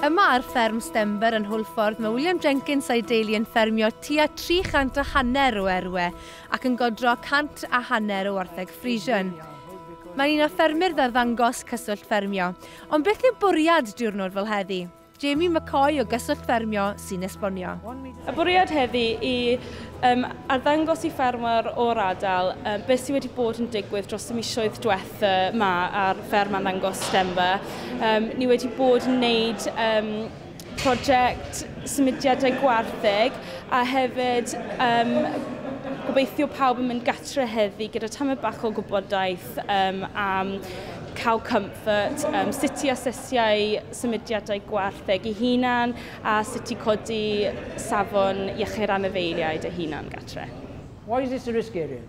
Yma ar fferm Stember yn Hwlffordd mae William Jenkins a'i deulu yn ffermio tua 300 a hanner o erwe ac yn godro 100 a hanner o wartheg Friesian. Mae'n un o ffermyr ddarddangos Cyswllt Ffermio. Ond beth yw bwriad diwrnod fel heddi? Jamie McCoy o Gyswllt Ffermio sy'n esbonio. Y bwriad heddi i um, arddangos i ffermwyr o'r adael um, beth sydd wedi bod yn digwydd dros y misioedd diwetha ma ar fferm a ddangos stemfa. Um, ni wedi bod yn wneud um, prosiect symudiadau gwartheg a hefyd um, gobeithio pawb yn mynd gatre heddi gyda tamau bach o gwybodaeth um, am cow comfort, um, sut i asesiau symudiadau gwartheg i hunan A sut i codi safon iechyd anifeiliaid a hunan gartre. Why is this a risk area?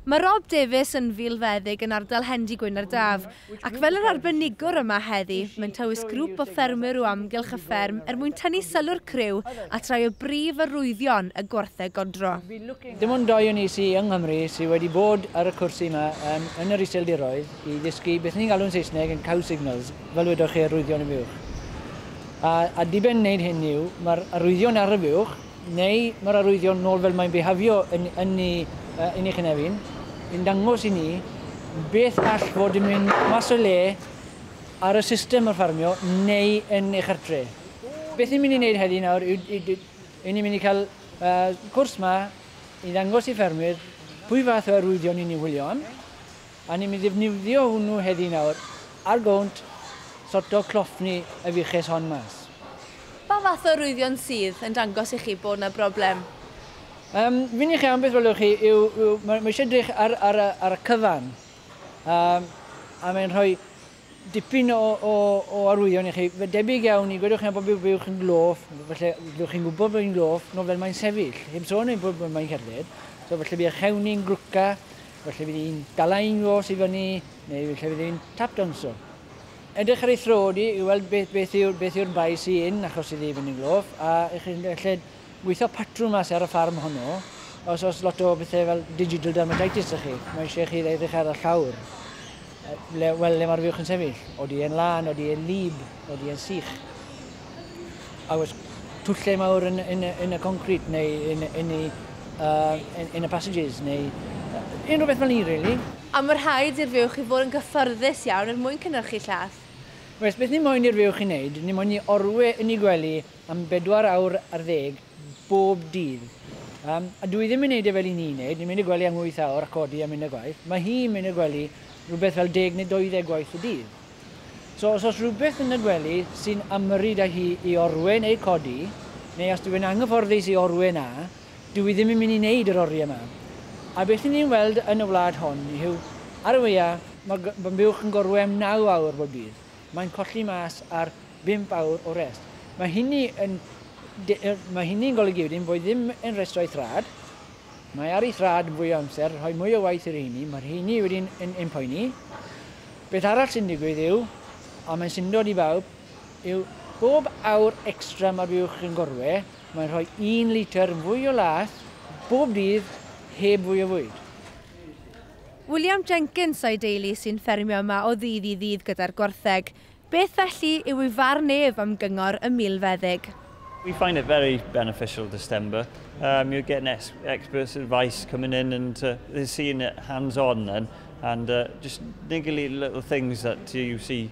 Mae Rob Davies yn filfeddyg yn ardal Hendy Gwynardav, ac fel yr arbenigwr yma heddi, mentawys grŵp o ffermwyr o amgylch y fferm er mwyn tynnu sylw'r criw at rai o brif arwyddion y gwartheg godro. Dim ond dau o ni sy yng Nghymru sy wedi bod ar y cwrs yma yn yn yr Iseldiroedd i ddysgu beth ni'n galw'n Saesneg yn cow signals. fel wedoch chi, arwyddion y fuwch. A, a diben wneud hyn yw, mae'r arwyddion ar y fuwch, neu mae'r arwyddion nôl fel mae'n behafio yn, yn, ni, uh, yn ei chynefin, yn dangos i ni beth all fod yn mynd mas o le ar y system o'r ffarmio neu yn eich artre. Beth ni'n mynd i wneud heddi nawr yw, yw, yw ni'n mynd i cael uh, cwrs ma i ddangos i ffermwyr pwy fath o arwyddion ni'n ei wylio am, A ni'n mynd i ddefnyddio hwnnw heddi nawr ar gownt sorto cloffni y fuches hon mas. Pa fath o rwyddion sydd yn dangos i chi bod 'na broblem? Yym, f'un i chi am beth welwch chi yw, yw, mae, mae eisiau edrych ar, ar, ar y cyfan. Yym, a mae'n rhoi Dipyn o arwyddion i chi. Fe debyg iawn i, gwedwch chi am bod byw uwch yn gloff, falle byddwch chi'n gwybod bod hi'n gloff, nofel mae'n sefyll, heb sôn am bod mae'n cerdded, so falle bydd eich hewn ni'n glwca, falle bydd hi'n dala un fos i fyny, neu falle bydd hi'n tap danso. Edrych ar ei thro di i weld beth yw'r bai sy yn achos iddi fynd yn gloff, a chi'n gallu Gweithio patrwn mas ar y ffarm honno, os oes lot o bethau fel digital dermatitis 'da chi, mae eisiau chi edrych ar y llawr, le, wel, le mae'r fuwch yn sefyll. Odi e'n lân, odi e'n wlyb, odi e'n sych. A oes twllau mawr yn, yn, yn y concrit neu yn, yn, y, uh, yn, yn y passages neu uh, unrhyw beth fel ni, really. A mae rhaid i'r fuwch i fod yn gyffyrddus iawn er mwyn cynhyrchu llath. Oes, beth ni moyn i'r fuwch i wneud, ni moyn i orwe yn ei gwely am bedwar awr ar ddeg bob dydd. Yym, a dw i ddim yn neud e fel i ni neud, ni'n mynd i'r gwely am wyth awr a codi a mynd i'r gwaith. Mae hi'n mynd i'r gwely rhywbeth fel deg neu doeddeg gwaith y dydd. So os oes rhywbeth yn y gwely sy'n ymyrryd â hi i orwên ei codi, neu os dyw e'n anghyfforddus i orwên a, dw i ddim yn mynd i neud yr oriau 'ma. A beth i ni'n weld yn y wlad hon yw, ar y weia, ma' g- ma' buwch yn gorwên am naw awr bob dydd. Mae'n colli mas ar bump awr o rest. Mae hynny yn mae hynny'n golygu wedyn bod ddim yn rhestrau thrad. Mae ar ei thrad yn fwy o amser, rhoi mwy o waith i'r rheini, mae'r rheini wedyn yn, yn poeni. Beth arall sy'n digwydd yw, a mae'n syndod i bawb, yw bob awr extra mae'r fuwch yn gorwe, mae'n rhoi un litr yn fwy o laeth bob dydd heb fwy o fwyd. William Jenkins a'i deulu sy'n ffermio yma o ddydd i ddydd gyda'r gwartheg. Beth felly yw ei farn ef am gyngor y milfeddyg? We find it very beneficial to Stenber, erm you're getting ex experts advice coming in and uh they're seeing it hands on then and uh just niggly little things that you see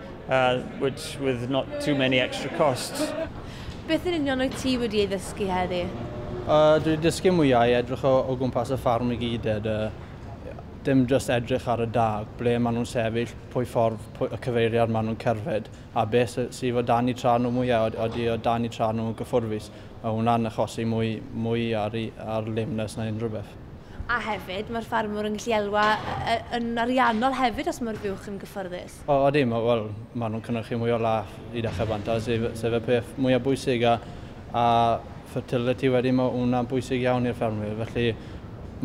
Uh, which with not too many extra costs. Beth yn union o'i ti wedi ei ddysgu heddi? Uh, dwi wedi dysgu mwyau i edrych o, o gwmpas y ffarm i gyd, ed, uh, dim just edrych ar y dag, ble maen nhw'n sefyll, pwy ffordd pwy, y cyfeiriad maen nhw'n cerfed, a beth sydd o dan i tra nhw mwyau, oeddi o dan i tra nhw'n gyffurfus. Mae hwnna'n achosi mwy, mwy ar, ar lameness na unrhyw beth. A hefyd, mae'r ffarmwr yn gallu elwa yn ariannol hefyd os mae'r buwch yn gyffyrddus. O, odi, ma, wel, maen nhw'n cynhyrchu mwy o lath i ddechrau banta, sef, sef y peth mwyaf bwysig, a, a fertility wedyn, mae hwnna'n bwysig iawn i'r ffermwyr, felly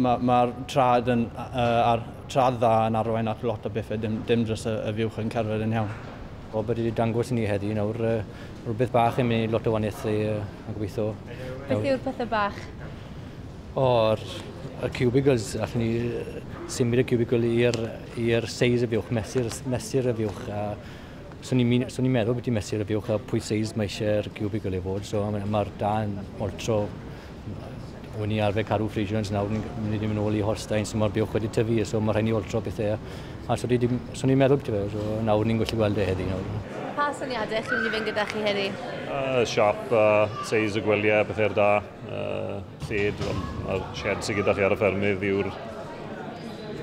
mae'r ma trad, yn, uh, ar, trad dda yn arwain at lot o bethau, dim, dim dros y, y fuwch yn cerdded yn iawn. O, bod wedi dangos i ni heddi nawr uh, rhywbeth bach yn mynd lot o waniaethu uh, a gobeithio. Beth yw'r pethau bach? O'r y cubicles, allwn ni symud y cubicle i'r i'r seis y fuwch, mesur, mesur y fuwch a swn i'n so ni meddwl beth i mesur y fuwch a pwy seis mae eisiau'r cubicle i fod. So mae'r ma da yn oltro O'n i arfer caru Frisians, nawr ni'n mynd i'n ôl i Holstein, so mae'r buwch wedi tyfu, so mae rhaid ni oltro bethau. A so ni, so ni meddwl beth fel, so nawr ni'n gallu gweld e heddi nawr. Pa syniadau chi'n mynd i fynd gyda chi heddi? Uh, siap, uh, seis y gwyliau, pethau'r da. Uh, lled, mae'r shed sydd gyda chi ar y ffermydd yw'r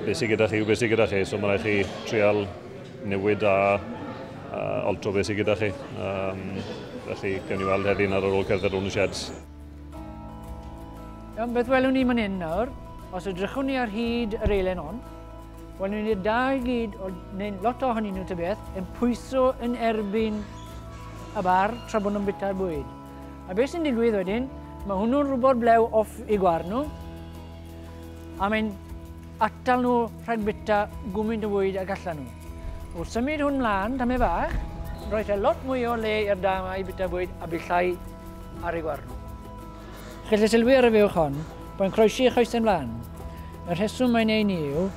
beth sydd gyda chi yw beth sydd gyda chi, so mae rhaid chi trial newid a, a altro beth sydd gyda chi. Um, felly, gen i weld heddi'n ar ôl cerdded rhwng y sheds. Iawn, beth welwn ni man hyn nawr, os ydrychwn ni ar hyd yr eilen hon, welwn ni'r da i gyd, neu lot ohonyn nhw tybeth, yn pwyso yn erbyn y bar tra bod nhw'n bita'r bwyd. A beth sy'n digwydd wedyn, mae hwnnw'n rhywbeth blew off i gwar nhw, a mae'n atal nhw rhag bita gwmynt o fwyd ag allan nhw. Wrth symud hwn mlaen, tam e fach, roedd e lot mwy o le i'r dam a'i bita bwyd a billai ar ei gwar nhw. Gellid sylwi ar y fewch hon, mae'n croesi ei choesau mlaen. Y rheswm mae'n ei ni yw,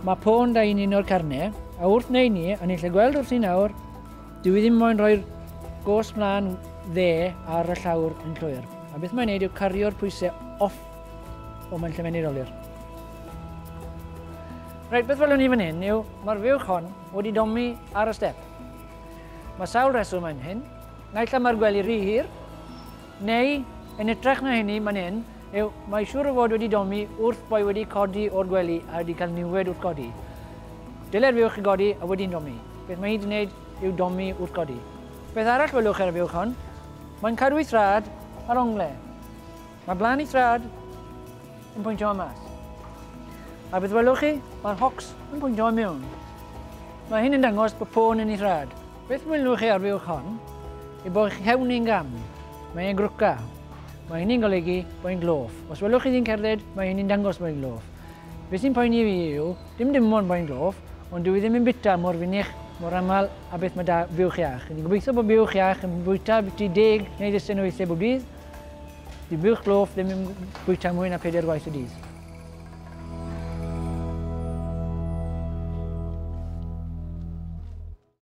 mae pôn da i'n un o'r carne, a wrth wneud ni, a ni'n lle gweld wrth i nawr, Dw i ddim moyn rhoi'r gos mlaen dde ar y llawr yn llwyr, a beth mae'n neud yw cario'r pwysau off o mae'n lle mae'n ei rolir. Rhaid beth welwn ni fan hyn yw mae'r fuwch hon wedi domi ar y step. Mae sawl reswm yn hyn. Naill am mae'r gwely rhy hir, neu yn ytrach na hynny mae'n hyn, yw, mae siŵr o fod wedi domi wrth boi wedi codi o'r gwely a wedi cael niwed wrth godi. Dylai'r fuwch godi a wedi'n domi. Beth mae hi wedi gwneud yw domi wrth godi. Beth arall welwch ar y fuwch hon? Mae'n cadw ei thraed ar ongle. Mae blaen ei thraed yn pwyntio am mas. A beth welwch chi? Mae'r hocs yn pwyntio am mewn. Mae hyn yn dangos bod pôn yn ei thraed. Beth mwynwch chi ar fuwch hon? Y bo chi'n cael un gam. Mae e'n grwca. Mae hynny'n golygu bod hi'n gloff. Os welwch chi hi'n cerdded, mae hynny'n dangos bod hi'n gloff. Beth sy'n poeni fi yw, dim dim ond bod hi'n gloff, ond dwi ddim yn bita mor fynych, mor aml a beth mae da fuwch iach. Rydyn ni'n gobeithio bod buwch iach yn bwyta biti deg neu ddisen o weithiau bob dydd. Di buwch gloff ddim yn bwyta mwy na peder gwaith y dydd.